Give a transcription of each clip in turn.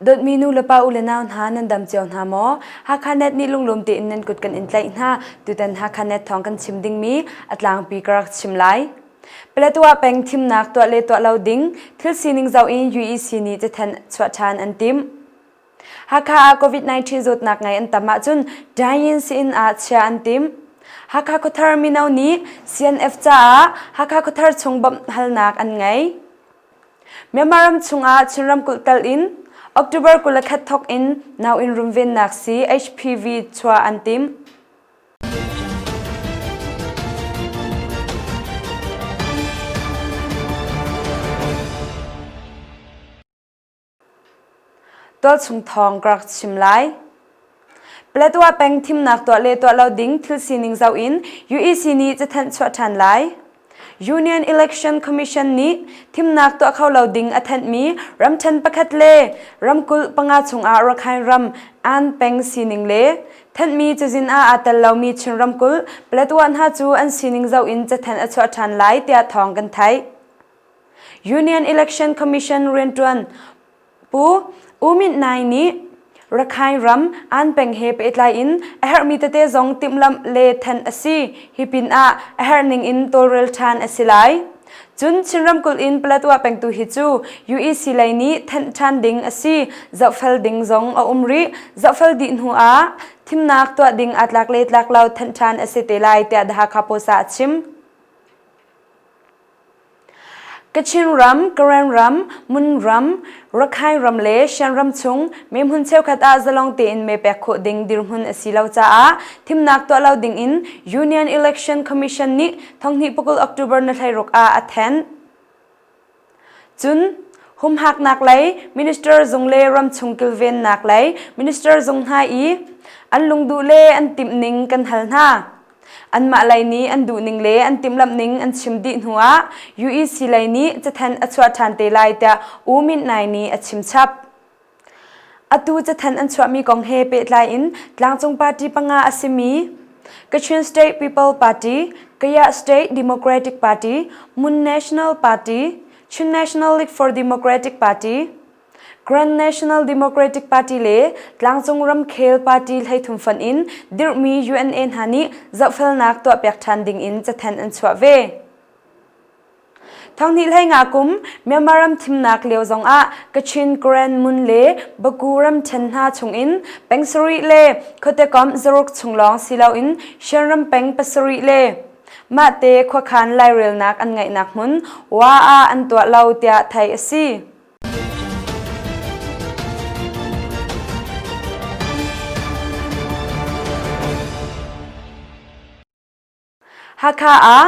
Dawtmi nu le pa u le nau hna nan dam cio hna maw? Hakha net nih lunglawm tein nan kut kan in tlaih hna. Tutan Hakha net thawng kan chim dingmi a tlangpi ka rak chim lai. Paletwa peng thimnak tuah le tuah lo ding thil sining zoh in UEC nih cathen chuah ṭhan an timh. Hakha ah COVID-19 zawtnak ngei an tam ahcun dying siin ah chia an tim. Hakha khuthar mino nih CNF caah Hakha khuthar chung bawmh halnak an ngei. Myanmar ram chungah Chin ramkulh tal in October kul le khat thok in nauin rumvennak si HPV chuah an tim. Tualchung thawng ka rak chim lai. Paletwa peng thimnak tuah le tuah lo ding thil sining zoh in UEC nih cathanh chuah ṭhan lai. Union Election Commission nih thimnak tuah kho lo ding a thanhmi ramṭhen pakhat le ramkulh panga chungah Rakhine ram An peng sining le thanhmi cazin ah aa tel lomi Chin ramkulh Paletwa hna cu an sining zoh in cathanh a chuah ṭhan lai tiah thawng kan theih. Union Election Commission riantuan Pu U Myint Nai nih Rakhine ram an peng he pehtlai in a herhmi tete zong timhlamh le thanh a si. Hi pin ah a herhning in tawlrel ṭhan a si lai. Cun Chin ramkulh in Paletwa pengtu hi cu UEC lei nih thanh ṭhan ding a si. Zohfel ding zong a um rih. Zohfel dih hnu ah thimnak tuah ding aa tlak le tlak lo thanh ṭhan a si te lai tiah The Hakha Post ah a chim. Kachin ram, Karen ram, Mun ram, Rakhine ram le Shan ram chung mehmun cheukhat ah zalong tein mee pek khawh ding dirhmun a si lo caah thimnak tuah lo dingin Union Election Commission nih thonghnih pukul October na hleiruk ah a then. Cun, humhaknak lei minister zung le ramchung kilvennak lei minister zung hna i an lungduh le an timh ning kan hal hna. Anmah lei nih an duhning le an timhlamhning an chim dih hnuah UEC lei nih cathan a chuah ṭhan te lai tiah U Myint Naing nih a chimchap. Atu cathan an chuahmi kong he pehtlai in tlangcung party panga a simi Kachin State People Party, Kaya State Democratic Party, Mun National Party, Chin National League for Democratic Party, Grand National Democratic Party le Tlangcung Ramkhel Party hleithum fan in dirhmi UNA hna nih zohfelnak tuahpiak ṭhan ding in cathen an chuah ve. Thanghnih hlei nga kum Myanmar ram thimnak lio zong ah Kachin Grand Mun le Baku ram ṭhen hna chung in pangsarih le khuatekom zaruk chung lawng si lo in Shan ram peng pasarih le mahte khuakhan lairelnak an ngeihnak hmun Wa ah an tuah lo tiah theih a si. Hakha ah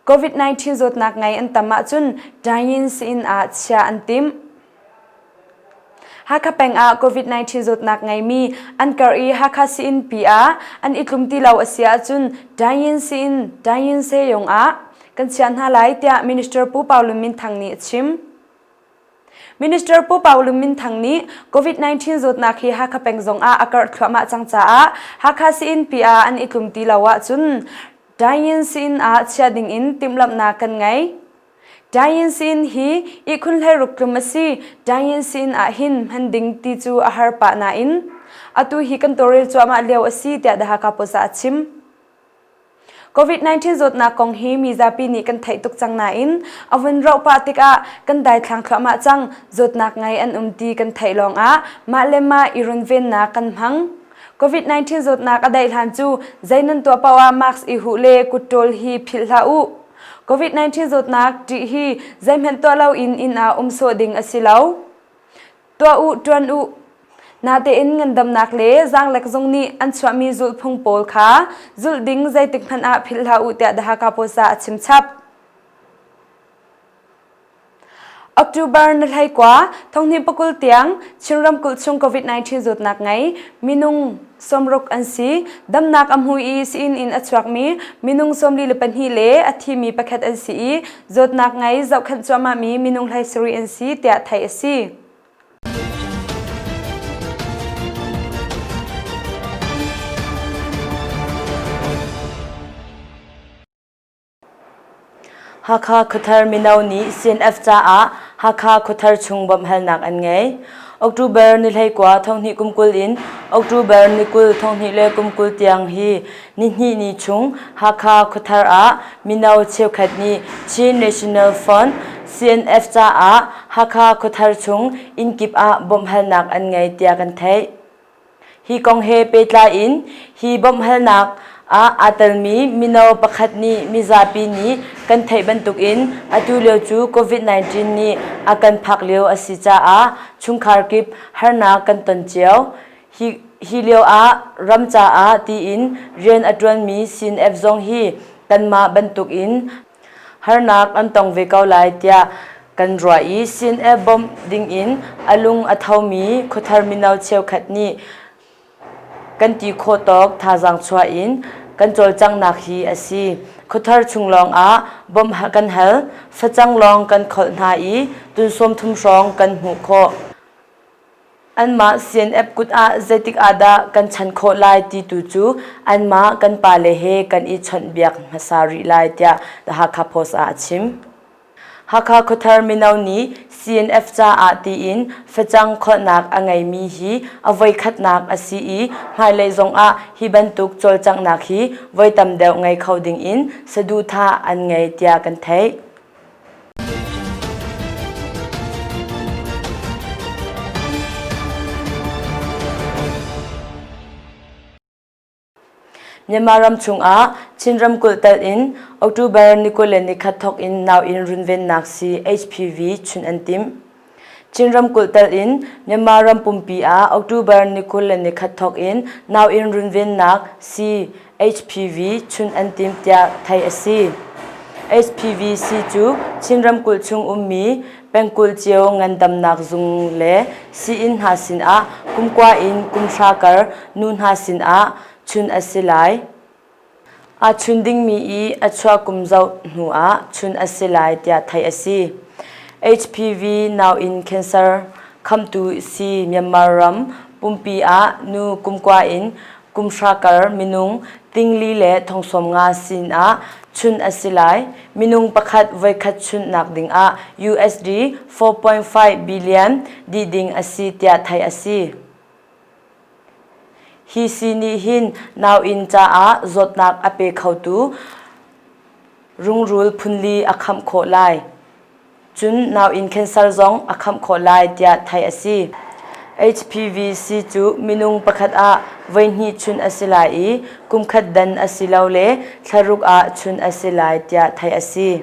COVID-19 zawtnak ngei an tam ahcun dine-in siin ah chia an tim. Hakha peng ah COVID-19 zawtnak ngeimi an kar i Hakha siin pi ah an i tlum ti lo a si ahcun dine-in siin dine-in se yong ah kan chiah hna lai tiah Minister Pu Pau Lum Min Thang nih a chim. Minister Pu Pau Lum Min Thang nih COVID-19 zawtnak hi Hakha peng zong ah a karh thluahmah cang caah Hakha Siin pi ah an i tlum ti lo ahcun Dayin Siin ah chiah ding in timhlamhnak kan ngei. Dayin Siin hi ihkhun hleiruk tlum a si. Dayin Siin ah hin hman ding ti cu a har pah nain atu hi kan tawrel cuahmah lio a si tiah The Hakha Post ah a chim. COVID-19 zawtnak kong hi mizapi nih kan theih tuk cang nain a vun rauh pah tikah kan daithlang thluahmah cang zawtnak ngai an um ti kan theih lawngah mah le mah i runvennak kan hmang COVID-19 zawtnak a daih hlan cu zei nan tuah paoh ah mask i huh le kutṭawl hi philh hlah u COVID-19 zawtnak ṭih hi zeihmanh tuah lo in inn ah um sawh ding a si lo tuah u ṭuan u. Natein ngandamnak le zaanglek zung nih an chuahmi zulhphung pawl kha zulh ding zeitik hmanh ah philh hlah u tiah The Hakha Post ah a chimchap. October na hlei kwa thonghni pakul tiang Chin ramkulh chung COVID-19 zawtnak ngei minung sawmruk an si damnak a hmu i siin in a chuakmi minung sawmli le pahnih le a thimi pakhat an si i zawtnak ngei zohkhenh cuahmahmi minung hlei sarih an si tiah theih a si. Hakha Khuathar Mino Ni CNF caah Hakha Khuathar chung bawmhhalnak an ngei. October ni hleikua thonghnih kum kul in October ni kul thonghnih le kum kul tiang hi nihnih ni chung Hakha Khuathar ah mino cheukhat nih Chin National Front CNF caah Hakha Khuathar chung innkip ah bawmhhalnak an ngei tiah kan theih. Hi kong he pehtlai in hi bawmhhalnak ah aa telmi mino pakhat nih mizapi nih kan theih bantukin atu lio cu COVID-19 nih a kan phak lio a si caah chungkhar kip harnak kan ton cio. Hi, hi lio ah ram caah tiin rian a ṭuanmi sin-app zong hi kanmah bantukin harnak an tong ve ko lai tiah kan ruah i sin e bawmh dingin a lung a thomi khuthar mino cheukhat nih kan ti khawh tawk thazaang chuah in kan cawlcanghnak hi a si. Khuthar chung lawngah bawmh kan hal, facang lawng kan kholh hna i tunsawm thum hrawng kan hmuh khawh. Anmah CNF kut ah zeitik ah dah kan chan khawh lai ti tu cu anmah kan pale he kan i chawnhbiak hmasa rih lai tiah The Hakha Post ah a chim. Hakha khuathar mino nih CNF caah tiin facang kholhnak a ngeimi hi a voikhatnak a si i hmailei zong ah hi bantuk cawlcanghnak hi voi tam deuh ngei kho ding in saduhthah an ngei tiah kan theih. Myanmar ram chungah Chin ramkulh telh in October ni kul le ni khat thawk in nau in runvennak si HPV chunh an timh. Chin ramkulh tal in Myanmar ram pumpi ah October ni kul le ni khat thawk in nau in runvennak CHPV chun an tim tiah theih a si. HPVC cu Chin ramkulh chung ummi pengkulh cio ngandamnak zung le sii-inn hna sinah kumkua in kumhra kar nu hna sinah chun a si lai. Aa chun dingmi i a chuah kum zoh hnuah chun a si lai tiah theih a si. HPV nau in cancer khamtu si Myanmar ram pumpi ah nu kumkua in kumhra kar minung tingli le thongsawm nga sinah chun a si lai. Minung pakhat voikhat chunhnak dingah USD 4.5 billion dih ding a si tiah theih a si. Hi si nih hin nauinn caah zawtnak a pe khotu rungrul phunli a khamh khawh lai. Cun nauinn cancer zong a khamh khawh lai tiah theih a si. HPVC cu minung pakhat ah voihnih chunh a si lai i kumkhat dan a si lo le thlaruk ah chunh a si lai tiah theih a si.